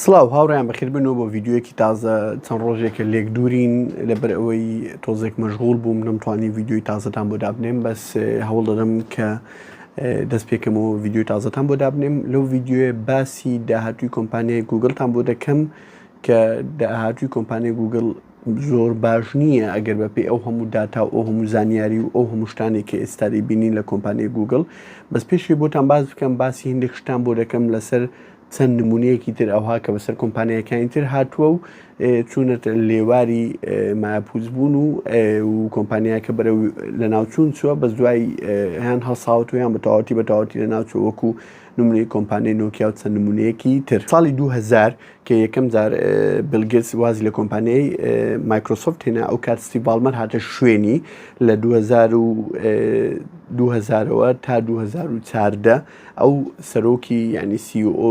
سڵاو هاوڕیان بەخیربنەوە بۆ ڤیددیوەکی تازە چەند ڕۆژێکە لێک دوورین لەبەر ئەوەی تۆزێک مەشغول بووم نەمتوانی ڤیددیوی تازەتان بۆ دابنێم بەس هەوڵ دەدەم کە دەست پێکەمەوە ڤیددیو تازەتان بۆ دابنێم لەو ڤیددیوێ باسی داهاتوی کۆمپانیای گوگلتان بۆ دەکەم کە داهاتووی کۆمپانیای گووگڵ زۆر باش نییە ئەگەر بەپێی ئەو هەموو داتا و ئەو هەموو زانیاری و ئەو هەموو شتانێک کە ئێستا دەیبینین لە کۆمپانیای گووگڵ بەس پێشی بۆتان باس بکەم باسی هەندێک شتان بۆ دەکەم لەسەر چەند نمونەیەکی تر ئەوها کە بەسەر کۆمپانیەکانی تر هاتووە و چوونەت لێواری ماپوز بوون و کۆمپانیاکە بەرە لە ناوچوون چووە بە دوای هەیان هەڵساوت و یان بە تەواتی بە تەواتی لە ناوچوە وەکو نمونەی کۆمپانیای نۆکیا و چەند نمونەیەکی تر ساڵی 2000 کە یەکەم جار بیل گێتس وازی لە کۆمپانیای مایکرۆسۆفت هێنا ئەو کات ستیڤ باڵمەر هاتە شوێنی لە 2000 و 2000ەوە تا 2014 ئەو سەرۆکی یعنی CEO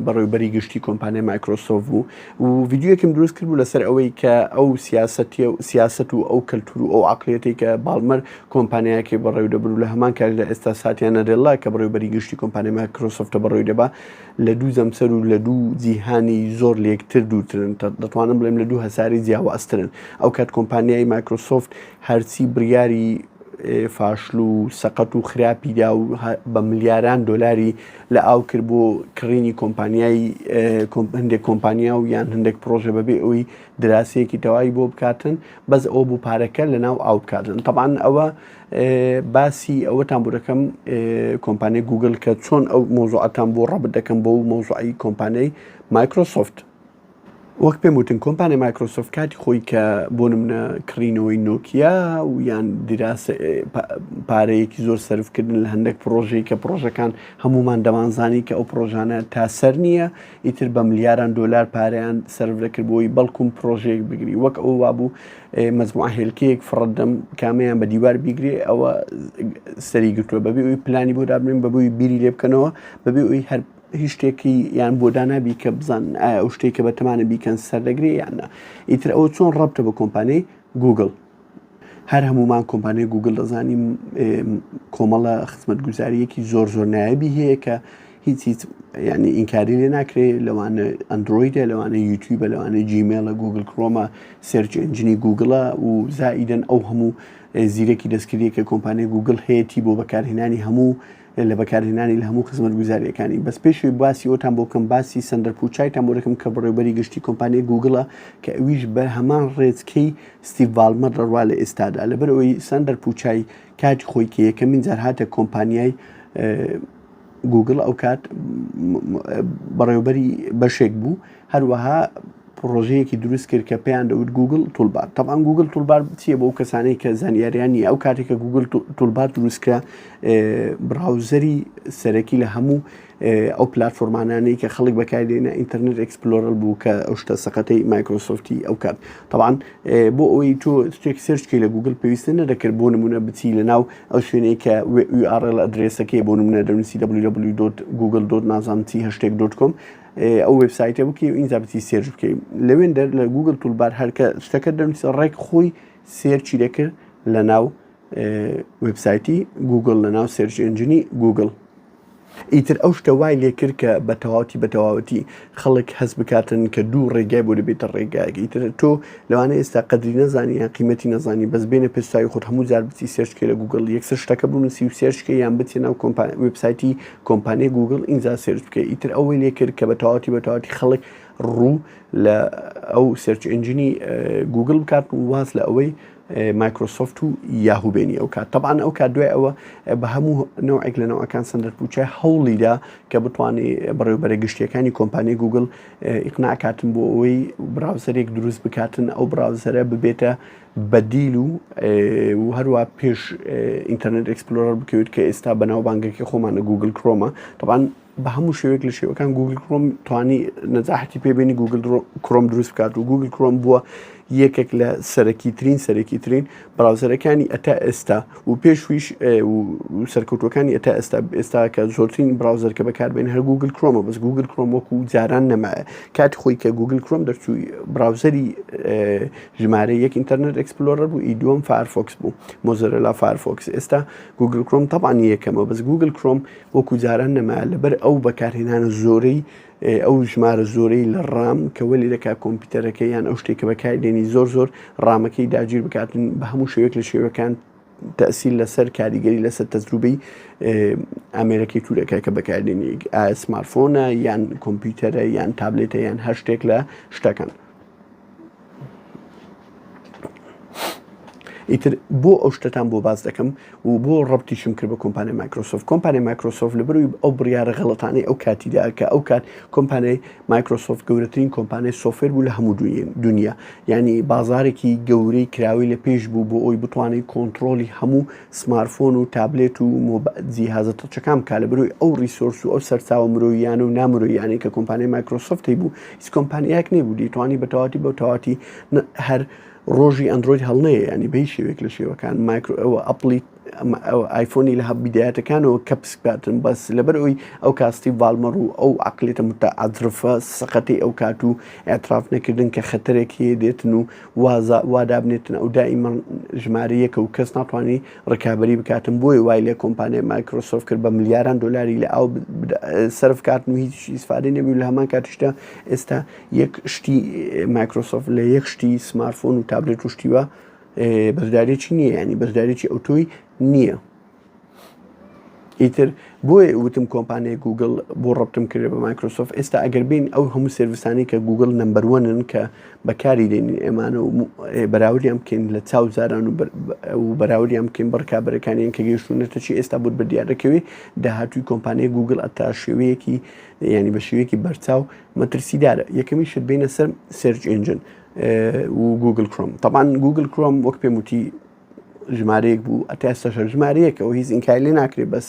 بەڕێوبەری گشتی کۆمپانیای مایکرۆسۆفت بوو و ڤیدیویەکم دروست کرد بوو لەسەر ئەوەی کە ئەو سیاسەتی و سیاست و ئەو کەلتور و ئەو عقلەتی کە باڵمەر کۆمپانیاکەی بەڕێوە دەبر و لە هەمان کاتدا ئێستا ساتیانە رێڵا کە بەڕێوبەری گشتی کۆمپانیای مایکرۆسۆفتە بەڕێوەی دەبا لە دوو جەمسەر و لە دوو جیهانی زۆر لە یەکتر دوورترن، دەتوانم بڵێم لە دوو هەسارەی جیاوازترن. ئەوکات کۆمپانیای مایکرۆسۆفت هەرچی بڕیاری فاشل و سەقەت و خراپی دا و بە ملیاران دۆلاری لە ئاو کرد بۆ کڕینی کۆمپانیای هەندێک کۆمپانیا و یان هەندێک پرۆژە بەبێ ئەوی دراسەیەکی تەواوی بۆ بکاتن بەس ئەو بوو پارەکە لە ناو ئاو بکاتن تەبان ئەوە باسی ئەوەتان بۆ دەکەم کۆمپانیای گوگل کە چۆن ئەو مۆزوعەتان بۆ ڕەبت دەکەم بۆ و مۆزوعی کۆمپانیای مایکرۆسۆفت وەک پێم وتن کۆمپانیای مایکرۆسۆفت کاتی خۆی کە بۆ منە کڕینەوەی نۆکیا و یان دیراس پارەیەکی زۆر سرفکردن لە هەندێک پرۆژەی کە پرۆژەکان هەمومان دەمانزانی کە ئەو پرۆژانە تاسەر نییە ئیتر بە ملیاران دۆلار پارەیان سەرفدەکرد بۆی، بەڵکوم پرۆژەیەک بگری، وەک ئەوە وابوو مەجموعە هێلکەیەک فڕتدەم، کامەیان بە دیوار بیگرێ ئەوە سەری گرتووە، بەبێ ئەوی پلانی بۆ دابنێن، بەبێ ئەوی بیری لێ بکەنەوە، بەبێ ئەوی هەر هیچ شتێکی یان بۆ دانابی کە بزانن ئایا ئەو شتێکە بە تەمانە بیکەن سەردەگرێ یان نا، ئیتر ئەوە چۆن ڕەبتە بە کۆمپانیای گووگڵ؟ هەر هەموومان کۆمپانیای گوگل دەزانین کۆمەڵە خزمەتگوزاریەکی زۆر زۆر نایبی هەیە کە هیچ هیچ ینی ئینکاری لێ ناکرێت لەوانە ئەندرویدە لەوانە یوتیوبە لەوانە جیمێلە گوگل کرۆمە سرجنجنی گوگڵە و زائیدەن ئەو هەموو زیرەکی دەستکردی کە کۆمپانیای گوگل هەیەی بۆ بەکارهێنانی هەموو لە بەکارهێنانی لە هەموو خزمەتگوزارییەکانی. بەس پێشەوەی باسی ئەوتان بۆ بکەم باسی سەندەر پوچایتان بۆ دەکەم کە بەڕێوبەری گشتی کۆمپانیای گووگڵە کە ئەویش بە هەمان ڕێچکەی ستیڤ ڤاڵمەر دەڕوا لە ئێستادا لەبەر ئەوەی سەندەر پوچای کاتی خۆی کە یەکەمین جار هاتە کۆمپانیای گووگڵ ئەو کات بەڕێوبەری بەشێک بوو هەروەها پڕۆژەیەکی دروست کرد کە پێیان دەوت گوگل تولبار تەبان گوگل تولبار چیە بۆ کەسانەی کە زانیاریان نیە ئەو کاتێک کە گوگل تولبار دروستکە براوزەری سەرەکی لە هەموو ئەو پلتفۆرمانانەی کە خەڵک بەکاردێنە ئینتەرنێت ئەکسپلۆرل بوو کە ئەو شتە سەقەتەی مایکرۆسۆفتی ئەو کات تەوان بۆ ئەوەی تۆ شتێک سرچکی لە گوگل پێویستە نەدەکرد بۆ نمونە بچی لە ناو ئەو شوێنەی کە URL ئەدرێسەکەی بۆ نمونە دەنووسی www.google. نازانتی هەشتێک.com ئەو وێبسایتە بکەی و ئینجا بچی سێرچ بکەی لەوێن دەر لە گوگل تولبار هەرکە شتەکە دەنووسە ڕێک خۆی سێرچی دەکرد لە ناو وبسایتی گوگل لە ناو سێرچ ئنجنی گوگل ئیتر ئەو شتە وای لێکرد کە بە تەواوەتی بە تەواوەتی خەڵک هەست بکاتن کە دوو ڕێگای بۆ دەبێتە ڕێگایەکە ئیتر تۆ لەوانە ئێستا قدری نەزانانی یان قیمەتی نەزانانی بەس بێنە پێستایی خۆت هەموو جار بچی سێرچکە لە گوگل یەکسەر شتەکە بنووسی و سێرچکە یان بچێ ناو کۆمپانی وبسایتی کۆمپانیای گووگڵ ئینجا سێرچ بکە ئیتر ئەوەی لێ کرد کە بە تەواتی بە تەواتی خەڵک ڕوو لە ئەو سێرچ ئنجنی گوگل بکات و واز لە ئەوەی مایکرۆسۆفت و یاهو بێنی ئەو کات تەبان ئەو کات دوای ئەوە بە هەموو نەوەک لە نەوەکان سندەر پوچە هەوڵیدا کە بتوانێت بەڕێوبەرە گشتیەکانی کۆمپانی گوگل ئیقناکاتن بۆ ئەوەی براوزەرێک دروست بکاتن ئەو براوزەرە ببێتە بەدیل و و هەروا پێش ئینتەرنێت ئەکسپلۆرەر بکەوێت کە ئێستا بەناو بانگەکەی خۆمانە گوگل کرۆمە طبعاان بە هەموو شێوێک لە شێوەکان گوگل کرۆم توانی نەجاحتی پێبێنی گوگل کرۆم دروست بکات و گوگل کرۆم بووە یەکێک لە سەرەکی ترین سەرەکی ترین براوزەرەکانی ئەتا ئێستا و پێشویش سەرکەوتەکانی ئەتا ئێستا ئێستا کە زۆرترین براوزەر کە بەکاربێن هەر گوگل کرۆمە بەس گوگل کرۆم وەکو جاران نەمایە کاتی خۆی کە گوگل کرۆم دەرچووی براوزەری ژمارە یەک ئینتەرنێت ئێکسپلۆرەر بوو ئی دووەم فایەرفۆکس بوو مۆزۆرەلا فایەرفۆکس ئێستا گوگل کرۆم تەبان یەکەمە بەس گوگل کرۆم وەکو جاران نەما لەبەر ئەو بەکارهێنانە زۆرەی ئەو ژمارە زۆرەی لە ڕام کەوەلی دەکا کۆمپیوتەرەکە یان ئەو شتێکە بەکاری دێنی زۆر زۆر ڕامەکەی داگیر بکاتن بە هەموو شوێک لە شێوەکان تەسیل لەسەر کاریگەری لەسەر تەجروبەی ئامێرەکەی تورەکە کە بەکاردێنی ئاسمارفۆنە یان کۆمپیوتەرە یان تابلێتە یان هەر شتێک لە شتەکان ئیتر بۆ ئەو شتتان بۆ باز دەکەم و بۆ ڕبتیشم کرد بە کۆمپانی مایکرۆسۆف کۆمپانی مایکرۆسۆف لە بروی ئەو بڕیاە غڵەتانەی ئەو کاتیدا کە ئەو کات کۆمپانیای مایکرۆسۆف گەورەترین کۆمپانیای سۆفێر بوو لە هەموو دنیا ینی بازارێکی گەورەی کراوی لە پێش بوو بۆ ئەوی بتوانین کۆنتترۆلی هەموو سمارفۆن و تابلێت و مۆب جیهازە تەچەکان بکا لە بەرۆی ئەو ڕیسۆرس و ئەو سەرچاوە مرۆییانە و نامرۆییانەی کە کۆمپانیای مایکرۆسۆفت هەیبوو هیچ کۆمپانیایەک نەیبوو دەیتوانی بە تەواتی بەو تەواتی هەر ڕۆژی ئەندرۆید هەڵنەیە ینی بەی شێوێک لە شێوەکان مایکرۆ ئەوە ئەپلی ئایفۆنی لە هەب بدایەتەکانەوە کە پسکاتن بەس لەبەر ئەوی ئەو کاستی ڤالمەڕ و ئەو عقلێتە متعادرفە سەقەتی ئەو کات و ئەتراف نەکردن کە خەتەرێکی دێتن و وازە وادابنێتن ئەو دائیمە ژمارە یەکە و کەس ناتوانانی ڕکابی بکاتن بۆی وای لە کۆمپانیای مایکرۆسۆف کرد بە ملیاران دلاری لە ئاو سرف کاتن و هیچی سفادی نەبی لە هەمان کاتیشدا ئێستا یەک شتی مایکرۆسۆف لە یەک شتی سمارفۆن و تابلێت و شتیوە بەشدارێکی نییە ینی بەشدارێکی ئەوتۆی نییە. ئیتر بۆیە وتم کۆمپانیای گوگل بۆ ڕبتم کرێ بە مایکرۆسۆف ئێستا ئەگەر بین ئەو هەموو سرویسانی کە گوگل نمبەروەنن کە بەکاری دێنین ئێمانە و بەراوریان بکەین لە چاو زاران و بەراوریان بکەین بڕکابەرەکانیان کە گەیشتونەتە چی ئێستا بوت بە دیارەکەوی داهاتوی کۆمپانیای گوگل ئەتا شێوەیەکی ینی بە شێوەیەکی بەرچاو مەترسیدارە یەکەمی شت بینە سەر سرج ئنجن و گوگل کرۆم تاان گوگل کرۆم وەک پێموتی ژمارەیەک بوو ئەتا ئێستاشە ژمارەیەکەوە هیچ ئینکای لێ ناکرێت بەس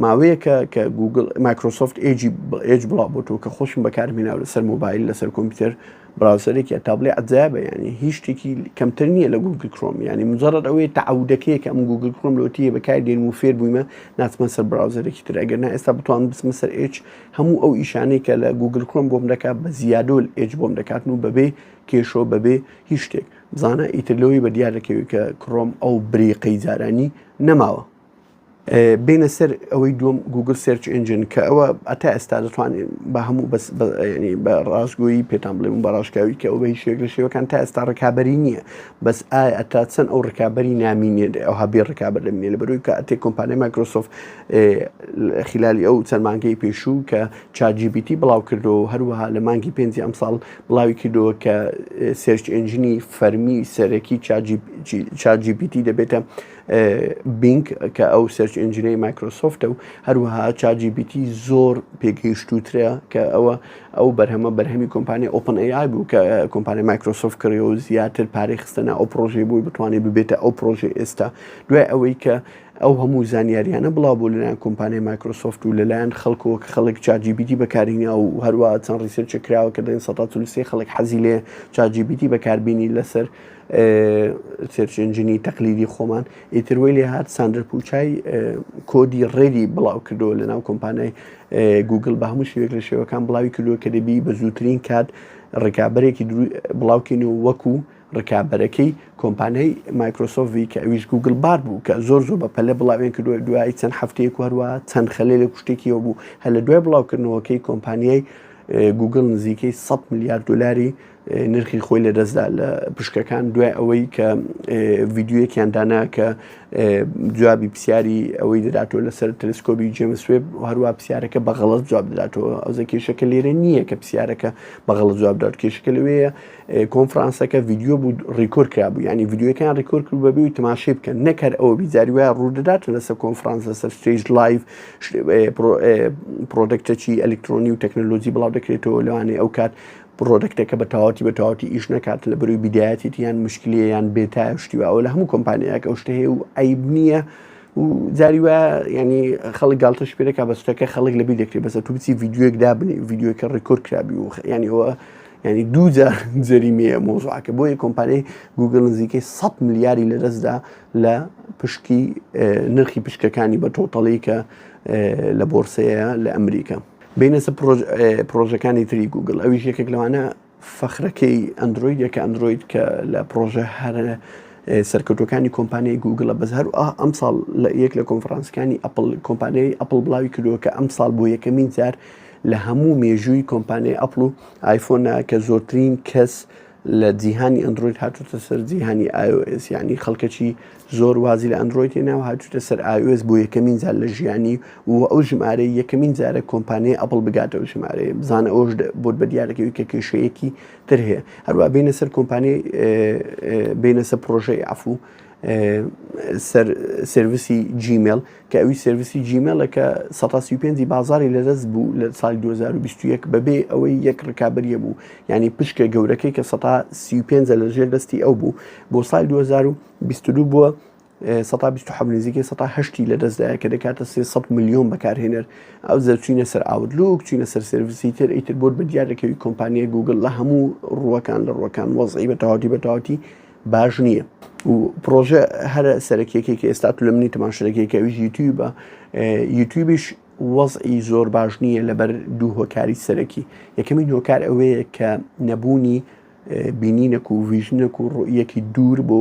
ماوەیەکە کە گوگل مایکرۆسۆفت ئێجی ئێج بڵاو بۆتەوە کە خۆشم بەکارمێناو لەسەر مۆبایل لەسەر کۆمپیوتەر براوسەرێکی تابلێ ئەجابە ینی هیچ شتێکی کەمتر نییە لە گوگل کرۆم ینی مجرد ئەوەیە تعودەکەی کە ئەم گوگل کرۆم لۆتیە بەکار دێن و فێر بوویمە ناتمە سەر براوزەرێکی تر ئەگەر نا ئێستا بتوان بسمە سەر ئێج هەموو ئەو ئیشانەی کە لە گوگل کرۆم بۆم دەکات بە زیادۆل ئێج بۆم دەکاتن و بەبێ کێشۆ بەبێ هیچ شتێک بزانە ئیتر لەوەی بەدیار دەکەوێت کە کڕۆم ئەو بریقەی جارانی نەماوە. بێنە سەر ئەوەی دووەم گوگل سێرچ ئنجن کە ئەوە ئەتا ئێستا دەتوانین بە هەموو بەسنی بە ڕاستگۆیی پێتان بڵێ بە ڕاشکاوی کە ئەو بە هیچێک لە شێوەکان تا ئێستا ڕکابی نییە بەس ئایا ئەتا چەند ئەو ڕکابی نامینێت ئەو هەبێ ڕکابەر دەمێ لە بەروی کە ئەتێ کۆمپانیای مایکرۆسۆف خلالی ئەو چەند مانگەی پێشوو کە چاجیبیتی بڵاو کردو هەروەها لە مانگی پێنجی ئەمساڵ بڵاوی کردەوە کە سێرچ ئنجنی فەرمی سەرەکی چاجیبیتی دەبێتە بینک کە ئەو سەرچ ئنجنەی مایکرۆسۆفتە و هەروەها چاجیبیتی زۆر پێگەیشتوترە کە ئەوە ئەو بەرهەمە بەرهەمی کۆمپانی ئۆپن ئەیای بوو کە کۆمپانی مایکرۆسۆف کڕی و زیاتر پارەی خستەنا ئەو پرۆژەی بووی بتوانانی ببێتە ئەو پرۆژە ئێستا دوای ئەوەی کە ئەو هەموو زانیاریانە بڵاو بوو لەلایەن کۆمپانیای مایکرۆسۆفت و لەلایەن خەڵکەوە کە خەڵک چات جی پی تی بەکارهیناوە و هەروا چەند ڕیسێرچێک کراوە کە دەڵێن سەدا چل و سێ خەڵک حەزی لێ چات جی پی تی بەکاربینی لەسەر سێرچ ئنجنی تەقلیدی خۆمان ئیتر وەی لێ هات ساندرە پوچای کۆدی ڕێدی بڵاو کردەوە لەناو کۆمپانیای گوگل بە هەموو شوێک لە شێوەکان بڵاوی کردووە کە دەبی بە زووترین کات ڕکابەرێکی بڵاوکەین و وەکو ڕکابەرەکەی کۆمپانیای مایکرۆسۆفی کە ئەویش گووگل بار بوو کە زۆر زۆر بە پەلە بڵاویان کردووە دوای چەند هەفتەیەک و هەروە چەند خەلێلێک شتێکیەوە بوو هەر لە دوای بڵاوکردنەوەکەی کۆمپانیای گوگل نزیکەی 100 میلیارد دلاری نرخی خۆی لە دەستدا لە پشکەکان دوای ئەوەی کە ڤیددیوەکیان دانا کە جوابی پرسیاری ئەوەی دەداتەوە لەسەر تەلسکۆبی جێمسوێب هەروە پرسیارەکە بەغڵت جواب دەداتەوە ئەوزە کێشەکە لێرە نییە کە پرسیارەکە بەغڵ جواب دەات کێشەکە لەوەیە کۆنفرانسەکە ڤیدیۆ بوو ڕیکۆر کرابوو ینی ڤیددیوەکان ڕیکۆر کرد بەبی و تماشی بکەن نەکەر ئەوە بیزاری وایە ڕوودەدات لەسەر کۆنفرانس لەسەر ستێژ لایف پرۆدەکتەچی ئەلکترۆنی و تەکنەلۆجی بڵاو دەکرێتەوە لەوانێ ئەو کات پرۆدەکتەکە بە تاواتی بە تاواتی ئیش نکات لە بەروی بیدایەتێت یان مشکلی یان بێتا شتیوە ئەو لە هەموو کۆمپانیایەک ئەو شتێ و عیب نییە و جاری وە ینی خەڵک گالتەش پێێکا بەستەکە خەڵک لەبی دەکرێت بەسە توبچی ڤیددیوەک دابنی ڤیددیوەکە ڕیکۆر کرابی و ینیەوە یعنی دوو جار جەریمەیە مۆزوعەکە بۆیە کۆمپانیای گوگل نزیکەی 100 ملیاری لە دەستدا لە پشکی نرخی پشکەکانی بە تۆتەڵی کە لە بۆرسەیە لە ئەمریکا بینەسە پرۆژەکانی تری گوگل ئەویش یەکێک لەوانە فەخرەکەی ئەندروید یەکە ئەندروید کە لە پرۆژە هەرە سەرکەوتەکانی کۆمپانیای گوگلە بەس هەر ئەم ساڵ لە یەک لە کۆنفرانسەکانی ئەپل کۆمپانیای ئەپل بڵاوی کردووە کە ئەم ساڵ بۆ یەکەمین جار لە هەموو مێژووی کۆمپانیای ئەپڵ و ئایفۆنا کە زۆرترین کەس لە جیهانی ئەندرۆید هاتوتە سەر جیهانی ئایۆئس یعنی خەڵکەکی زۆر وازی لە ئەندرۆیدی ناو هاتوتە سەر ئایۆس بۆ یەکەمین جار لە ژیانی و ئەو ژمارە یەکەمین جارە کۆمپانیای ئەپڵ بگاتە و ژمارەیە بزانە ئەوش بۆت بە دیارەکەوی کە کێشەیەکی تر هەیە هەروە بینە سەر کۆمپانیای بینەسە پرۆژەی ئەفو سەر سرویسی جیمێل کە ئەوی سرویسی جیمێلە کە 1950 بازاری لەدەست بوو لە سال 2021 بەبێ ئەوەی یەک ڕکابریە بوو ینی پشکە گەورەکەی کە 1950 لە ژێر دەستی ئەو بوو بۆ سال 2022 بووە 1970 نزیکە 1970 لە دەستدایە کە دەکاتە 300 میلیۆن بەکارهێنەر ئەو زەرچینە سەر ئاوتلوک چینە سەر سرویسی تر ئیتر بۆت بە دیارەکەوی کۆمپانیای گوگل لە هەموو ڕوەکان لە ڕوەکان وەزعی بە تەواتی بە تەواتی باش نییە و پرۆژە هەرە سەرەکیەکێک ئێستا تو لە منی تەماشرەکێکە ویژ یوتیوبە یوتیوبیش وەزعی زۆر باش نییە لەبەر دوو هۆکاری سەرەکی یەکەمی هۆکار ئەوەیە کە نەبوونی بینینەک و ویژنەک و ڕویەکی دوور بۆ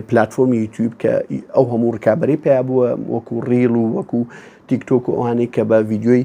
پلتفۆمی یوتیوب کە ئەو هەموو ڕکابی پیا بووە وەکو ڕیل و وەکو تیکتۆک و ئەوانەی کە بە ڤیددیوی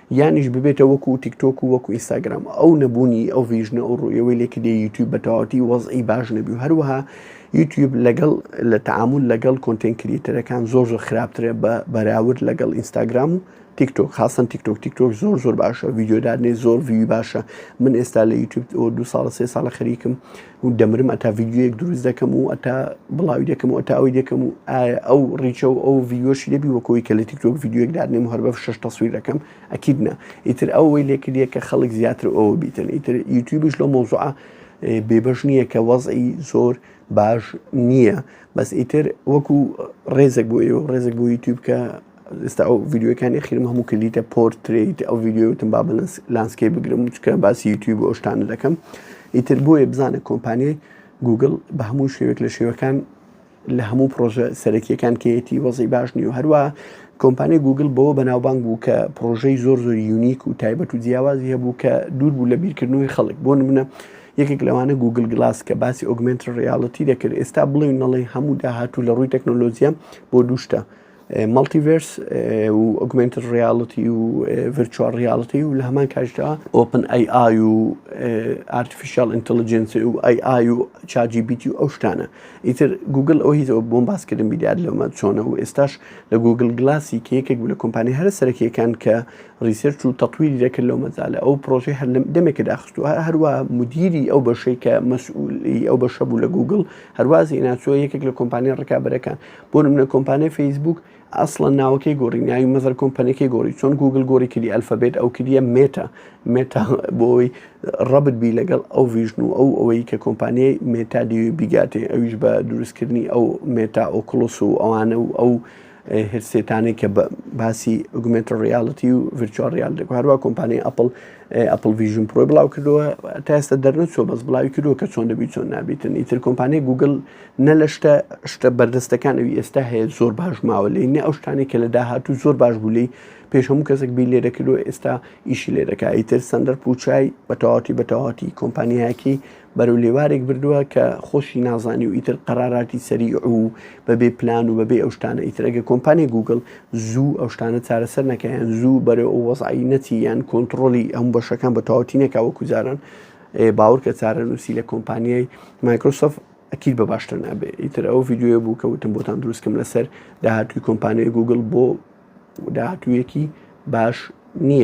یانیش ببێتە وەکو تیکتۆک و وەکو ئینستاگرام ئەو نەبوونی ئەو ڤیژنە ئەو ڕوویەوەی لێکی دێ یوتیوب بە تەواوەتی وەزعی باش نەبی و هەروەها یوتیوب لەگەڵ لە تعامل لەگەڵ کۆنتێن کریتەرەکان زۆر زۆر خراپترە بە بەراورد لەگەڵ ئینستاگرام و تیکتۆک خاصن تیکتۆک تیکتۆک زۆر زۆر باشە ڤیددیودادنێ زۆر ڤوی باشە من ئێستا لە یوتیوب دو ساڵە سێ ساڵە خەریکم و دەمرم ئەتا ڤیدیۆیەک دروست دەکەم و ئەتا بڵاوی دەکەم و ئەتا ئەوی دەکەم و ئایا ئەو ڕیچە و ئەو ڤیدیۆشی دەبی وەکۆی کە لە تیکتۆک ڤیدیۆیەک دادنێم هەر بە شش تەسویر دەکەم ئەکید نا ئیتر ئەوەی لێکردە کە خەڵک زیاتر ئەوە بیتن ئیتر یوتیوبش لە مۆزوعە بێبەش نییە کە وەزئی زۆر باش نییە بەس ئیتر وەکو ڕێزێک بۆ ئێوە ڕێزێک بۆ یوتیوب کە ئێستا ئەو ڤیدیۆکانی خیرم هەموو کردیتە پۆرتریت ئەو ڤیدیۆتم با بەلەنس لانسکەی بگرم چکە باسی یوتیوب بۆ شتان دەکەم ئیتر بۆیە بزانە کۆمپانیای گوگل بە هەموو شێوێک لە شێوەکان لە هەموو پرۆژە سەرەکیەکان کەیەتی وەزی باش نیە و هەروە کۆمپانی گوگل بەوە بەناوبانگ بوو کە پرۆژەی زۆر زۆر یونیک و تایبەت و جیاوازی هەبوو کە دوور بوو لە بیرکردنەوەی خەڵک بۆ منە یەکێک لەوانە گوگل گلاس کە باسی ئۆگمنت ڕیاڵەتی دەکرد ئێستا بڵێ نەڵێ هەموو داهاتوو لە ڕووی تەکنۆلۆژیە بۆ دووشتە مەڵتیڤێرس و ئۆگمێنتد ڕیاڵتی و ڤێرچواڵ ڕیاڵتی و لە هەمان کاتیشدا ئۆپن ئەی ئای و ئارتفیشیاڵ ئینتلیجنس و ئەی ئای و ChatGPT و ئەو شتانە ئیتر گوگل ئەو هیزەوە بۆم باسکردن بیدیار لەمە چۆنە و ئێستاش لە گوگل گلاسی کە یەکێک بوو لە کۆمپانیای هەرە سەرەکییەکان کە ڕیسێرچ و تەطویری دەکرد لەو مەجالە ئەو پرۆژەی هەر لەم دەمێکە داخست و هەروە مدیری ئەو بەشەی کە مەسئوولی ئەو بەشە بوو لە گوگل هەروازی ناچووە یەکێک لە کۆمپانیا ڕکابەرەکان بۆ نمونە کۆمپانیای فەیسبووک ئەسڵەن ناوەکەی گۆڕی ناوی مەزەر کۆمپەنیەکەی گۆڕی چۆن گوگل گۆری کردی ئەلفەبێت ئەو کردە مێتا مێتا بۆی ڕەبت بی لەگەڵ ئەو ڤژن و ئەو ئەوەی کە کۆمپانیای مێتا دیوی بیگاتێ ئەویش بە دروستکردنی ئەو مێتا ئۆکلس و ئەوانە و ئەو هرسێتانێک کە باسی ئوگومنت ڕیاڵەتی و ڤچوار ریال دەکو هەروە کۆمپانی ئەپل ئەپل ڤژن پرۆی بڵاو کردووە تا ئێستا دەرنەچۆ بەس بڵاوی کردووە کە چۆن دەبی چۆن نابیتن ئیتر کۆمپانیای گوگل نە لە شتە شتە بەردەستەکان ئەوی ئێستا هەیە زۆر باش ماوە لێ نە ئەو شتانی کە لە داهاتوو زۆر باش بوو لی پێش هەموو کەسێک بی لێ دەکردو ئێستا ئیشی لێ دەکا ئیتر سندەر پوچای بە تەواتی بە تەواتی کۆمپانیایەکی بەرەو لێوارێک بردووە کە خۆشی نازانی و ئیتر قەراراتی سەری و بەبێ پلان و بەبێ ئەو شتانە ئیترەگە کۆمپانی گوگل زوو ئەو شتانە چارەسەر نەکەیان زوو بەرەو ئەو وەزعایی نەچی یان کۆنتترۆلی ئەم بەشەکان بە تەواتی نەکەوە کوزاران باور کە چارە نووسی لە کۆمپانیای مایکرۆسۆفت ئەکید بە باشتر نابێ ئیتر ئەو ڤیددیوە بوو کە وتم بۆتان دروستکەم لەسەر داهاتوی کۆمپانیای گوگل بۆ داهاتویەکی باش نییە.